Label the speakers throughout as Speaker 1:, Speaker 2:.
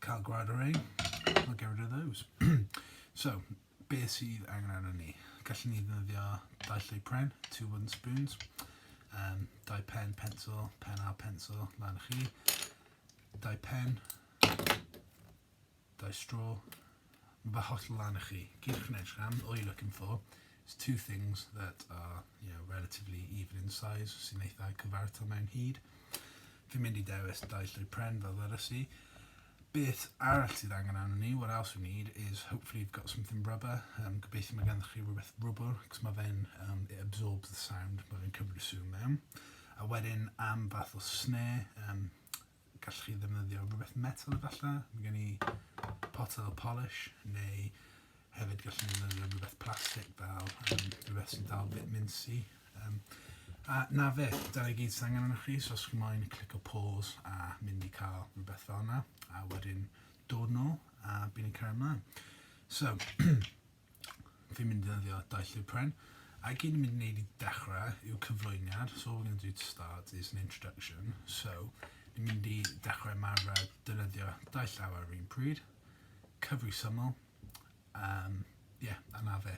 Speaker 1: cael gwared o rei, we'll get rid of those. so, be sydd angen arno ni? Gallwn ni ddefnyddio dau llwy pren, two wooden spoons, um, dau pen, pencil, pen a pencil, lan chi, dau pen, dau straw, Mae holl lan i chi. Gewch wneud rhan all you're looking for is two things that are you know relatively even in size sy'n eitha cyfartal mewn hyd. Fi'n mynd i dewis dau llwy pren fel ddyrys i. Beth arall sydd angen arno ni, what else we need, is hopefully you've got something rubber. Um, gobeithio mae gennych chi rhywbeth rwbr, cos mae fe'n, um, it absorbs the sound, mae fe'n cymryd y sŵn mewn. A wedyn am fath o snare, um, Gallwch chi ddefnyddio rhywbeth metal efallai, mae gen i potel polish neu hefyd gallwn ni ddefnyddio rhywbeth plastig fel um, rhywbeth sy'n dal bit minsi. Um, a na fe, dyna gyd sy'n angen arnoch chi, so os chi'n moyn clic o pause a mynd i cael rhywbeth fel yna, a wedyn dod nôl a bydd ni'n cael ymlaen. So, fi'n mynd i ddefnyddio Daith Llyfr Pren. A gyd ni'n mynd i wneud i dechrau yw cyflwyniad, so all we're going to do to start is an introduction. So, ni'n mynd i dechrau ymarfer defnyddio dau llawr ar yr un pryd, cyfri syml, um, yeah, a na fe.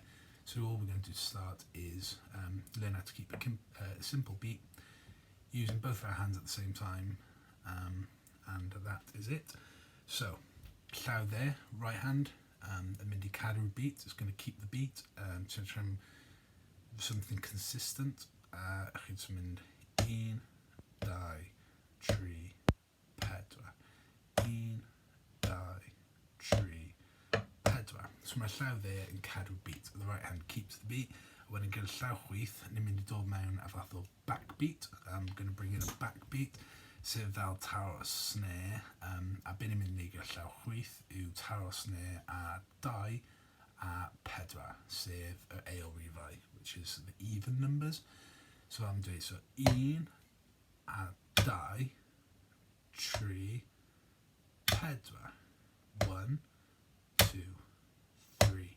Speaker 1: So all we're going to do to start is um, learn how to keep a uh, simple beat using both of our hands at the same time um, and that is it. So, llaw there, right hand, Yym yn mynd i caru'r beat, it's gonna keep the beat yym ti'n trio am something consistent a chi'n jyst yn mynd un dau tri pedwar un dau tri pedwar so mae'r llaw dde yn caru'r beat the right hand keeps the beat a wedyn gyda'r llaw chwith ni'n mynd i dod mewn a fath o backbeat, I'm going to bring in a backbeat, sef fel taro snare, um, a beth ni'n mynd i wneud gyda llaw chwyth yw taro snare a dau a pedwar, sef yr eol rifau, which is the even numbers. So am dweud, so un a dau, tri, pedwar, one, two, three,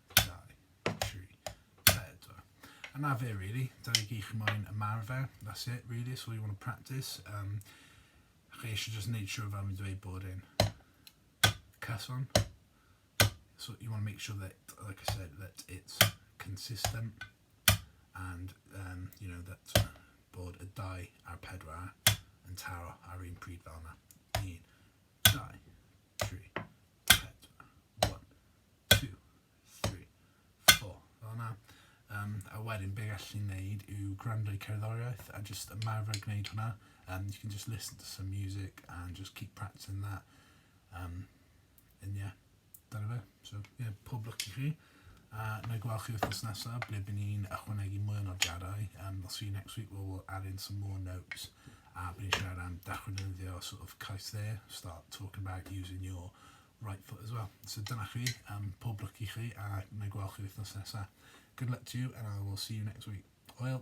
Speaker 1: And that fe really, dyna i gyd chi moyn ymarfer, that's it really, that's all you want to practice. Um, chi eisiau just wneud siwr fel mi'n dweud bod e'n cyson. So you want to make sure that, like I said, that it's consistent and, um, you know, that bod y dau a'r pedwar yn taro ar un pryd fel yna. Un, dau, Um, a wedyn be gallwn ni wneud yw gwrando i cerddoriaeth a just ymarfer gwneud hwnna. Um, you can just listen to some music and just keep practicing that. Um, and yeah, dyna fe. So, yeah, pob lwc i chi. A wna i gweld chi wythnos nesaf ble by ni'n ychwanegu mwy o nodiadau. Um, I'll see you next week where we'll add in some more notes a by ni'n siarad am dechwynyddio sort of cais dde, start talking about using your right foot as well. So dyna chi, um, pob lwc i chi a wna i gweld chi wythnos nesaf. Good luck to you and I will see you next week. Hwyl!